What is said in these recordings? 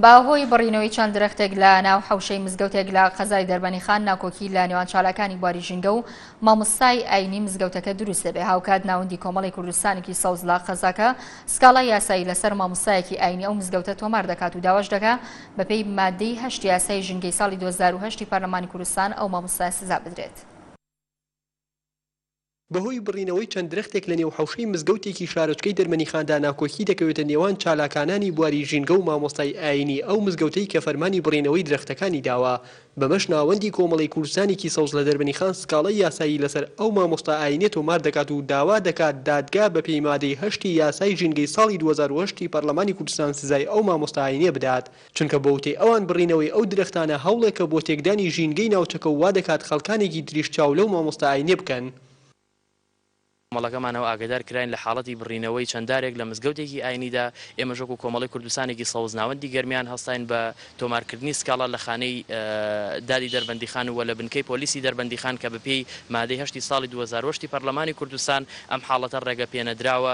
بە هۆی بڕینەوەی چەند درەختێک لە ناو حەوشەی مزگەوتێک لە قەزای دەربەنیخان ناکۆکی لە نێوان چالاکانی بواری ژینگە و مامۆستای ئاینی مزگەوتەکە دروست دەبێ هاوکات ناوەندی کۆمەڵی کوردستانێکی سەوز لە قەزاکە سکاڵا یاسایی لەسەر مامۆستایەکی ئاینی ئەو مزگەوتە تۆمار دەکات و داواش دەکا بەپێی مادەی هەشت یاسای ژینگەی ساڵی 2010 پەرلەمانی کوردستان ئەو مامۆستای سزا بدرێت. بەهۆی بڕینەوەی چەند درەختێک لەنێو حەوشەی مزگەوتێکی شارۆچکەی دەرمەنیخاندا ناکۆکی دەکەوێتە نێوان چالاکانانی بواری ژینگە و مامۆستای ئایینی ئەو مزگەوتەی کە فەرمانی بڕینەوەی درەختەکانی داوە بەمەش ناوەندی کۆمەڵەی کوردستانێکی سەوز لە دەربەنیخان سکاڵای یاسایی لەسەر ئەو مامۆستا ئایینیە تۆمار دەکات و داوا دەکات دادگا بەپێی مادەی هەشتی یاسای ژینگەی ساڵی دوو هەزار و هەشت ی پەرلەمانی کوردستان سزای ئەو مامۆستا ئایینیە بدات چونکە بە وتەی ئەوان بڕینەوەی ئەو درەختانە هەوڵێکە بۆ تێکدانی ژینگەی ناوچەکە و وادەکات خەڵکانێکی تریش چاو لەو مامۆستا ئاینیە بکەن. کۆمەڵەکەمانەوە ئاگەدار کراین لە حاڵەتی بڕینەوەی چەند دارێک لە مزگەوتێکی ئاینیدا، ئێمەش وەکو کۆمەڵەی کوردستانێکی سەوز ناوەندی گەرمیان هەستاین بە تۆمارکردنی سکاڵا لە خانەی دادی دەربەندیخان و لە بنکەی پۆلیسی دەربەندیخان کە بەپێی مادەی هەشتی ساڵی دوو هەزار و هەشت ی پەرلەمانی کوردستان ئەم حاڵەتە ڕێگەپێنەدراوە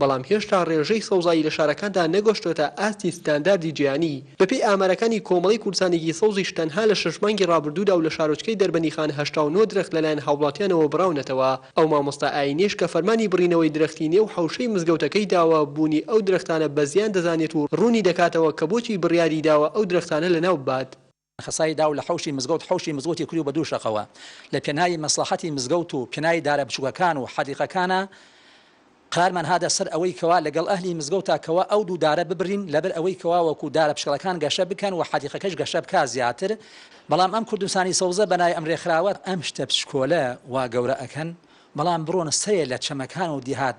بەڵام هێشتا ڕێژەی سەوزایی لە شارەکاندا نەگۆشتۆتە ئاستی ستانداردی جیهانی، بەپێی ئامارەکانی کۆمەڵەی کوردستانێکی سەوزیش تەنها لە شەش مانگی ڕابردوودا و لە شارۆچکەی دەربەندیخان هەشتا و نۆ درەخت لەلایەن هاووڵاتیانەوە بڕاونەتەوە، ئەو مامۆستا ئایینیەش کە فەرمانی بڕینەوەی درەختی نێو حەوشەی مزگەوتەکەی داوە، بوونی ئەو درەختانە بەزیان دەزانێت و ڕوونی دەکاتەوە کە بۆچی بڕیاری داوە ئەو درەختانە لەناو ببات. خسای داو لە حەوشی مزگەوت حەوشی مزگەوتی کریو بە دوو شەقەوە لە پێناوی مەسڵەحەتی مزگەوت و پێناوی دارە بچووکەکان و حەدیقەکانا قرارمان هاتە سەر ئەوەی کەوا لەگەڵ ئەهلی مزگەوتا کەوا ئەو دوو دارە ببرین لەبەر ئەوەی کەوا وەکو دارە پشکەڵەکان گەشە بکەن و حەدیقەکەش گەشە بکا زیاتر بەڵام ئەم کوردستانی سەوزە بەناوی ئەم رێکخراوە ئەم شتە بچکۆلە وا گەورە ئەکەن بەڵام بڕۆن سەرێ لە چەمەکان و دیهات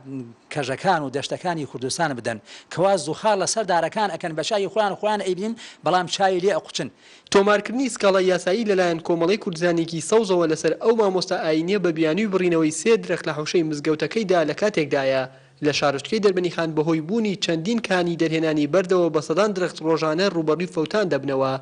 کەژەکان و دەشتەکانی کوردستان بدەن کەوا زوخاڕ لە سەر دارەکان ئەکەن بە چاوی خۆیان خۆیان ئەیبینن بەڵام چاوی لێ ئەقوچن. تۆمارکردنی سکاڵای یاسایی لەلایەن کۆمەڵەی کوردزانیی سەوزەوە لەسەر ئەو مامۆستا ئایینییە بە بیانووی بڕینەوەی سێ درەخت لە حەوشەی مزگەوتەکەیدا لە کاتێکدایە لە شارۆچکەی دەربەنیخان بەهۆی بوونی چەندین کانی دەرهێنانی بەردەوە بە سەدان درەخت ڕۆژانە ڕووبەڕووی فەوتان دەبنەوە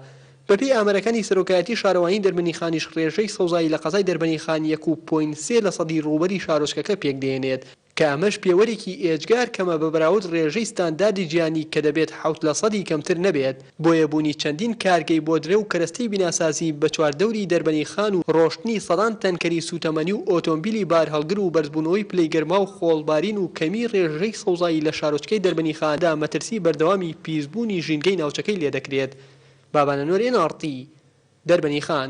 بەپێی ئامارەکانی سەرۆکایەتی شارەوانی دەربەنیخانیش ڕێژەی سەوزایی لە قەزای دەربەنیخان یەک و پۆینت سێ لەسەدی ڕووبەری شارۆچکەکە پێکدێنێت کە ئەمەش پێوەرێکی ئێجگار کەمە بە بەراود ڕێژەی ستانداردی جیهانی کە دەبێت حەوت لەسەدی کەمتر نەبێت بۆیە بوونی چەندین کارگەی بۆدرە و کەرەستەی بیناسازی بە چواردەوری دەربەنیخان و ڕۆشتنی سەدان تەنکەری سووتەمەنی و ئۆتۆمبیلی بارهەڵگر و بەرزبوونەوەی پلەی گەرما و خۆڵبارین و کەمی ڕێژەی سەوزایی لە شارۆچکەی دەربەنیخان دا مەترسی بەردەوامی پیسبوونی ژینگەی ناوچەکەی لێدەکرێت، بابانەنۆر ئێن ئاڕ تی، دەربەنی خان.